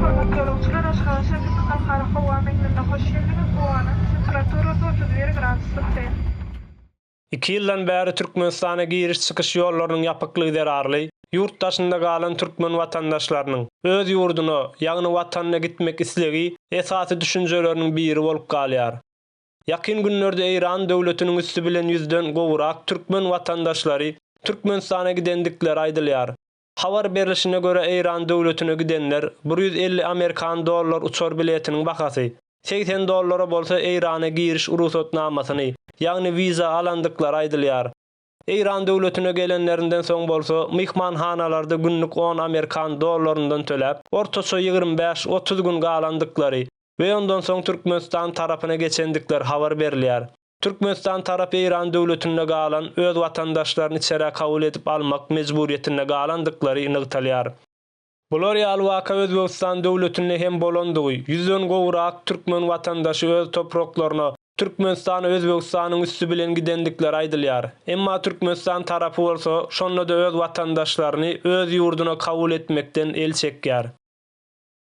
Hormatly ýolagçylar, Aşgabat şäheriniň Halkara howa meňzine hoş geldiňiz! Howanyň temperaturasy otuz bir gradus tutdy. Iki ýyldan bäri Türkmenistana giriş-çykyş ýollarynyň ýapyklygy zerarly, ýurt daşynda galan türkmen watandaşlarynyň öz ýurduna, ýagny watanyna gitmek islegi esasy düşünjeleriniň biri bolup galýar. Ýakyn günlerde Eýran döwletiniň üsti bilen ýüzden gowrak türkmen watandaşlary Türkmenistana gidendikleri aýdylýar. Habar berlişine görä Eýran döwletine gidenler bir ýüz elli amerikan dollar uçar biletiniň bahasy, segsen dollara bolsa Eýrana giriş urugsatnamasyny, ýagny wiza alandyklary aýdylýar. Eýran döwletine gelenlerinden soň bolsa myhmanhanalarda günlük on amerikan dollaryndan töläp, ortaça ýigrimi bäş, otuz gün galandyklary we ondan soň Türkmenistan tarapyna geçendikleri habar berilýär. Türkmenistan tarapy Eýran döwletinde galan öz watandaşlaryny içerä kabul edip almak mejburyýetinde galandyklary nygtalýar. Bular ýaly waka Özbegistan döwletinde hem bolandygy, ýüzden gowrak türkmen watandaşy öz topraklaryna, Türkmenistana Özbegistanyň üsti bilen gidendikleri aýdylýar. Emma Türkmenistan tarapy bolsa, şonda-da öz watandaşlaryny öz ýurduna kabul etmekden el çekýär.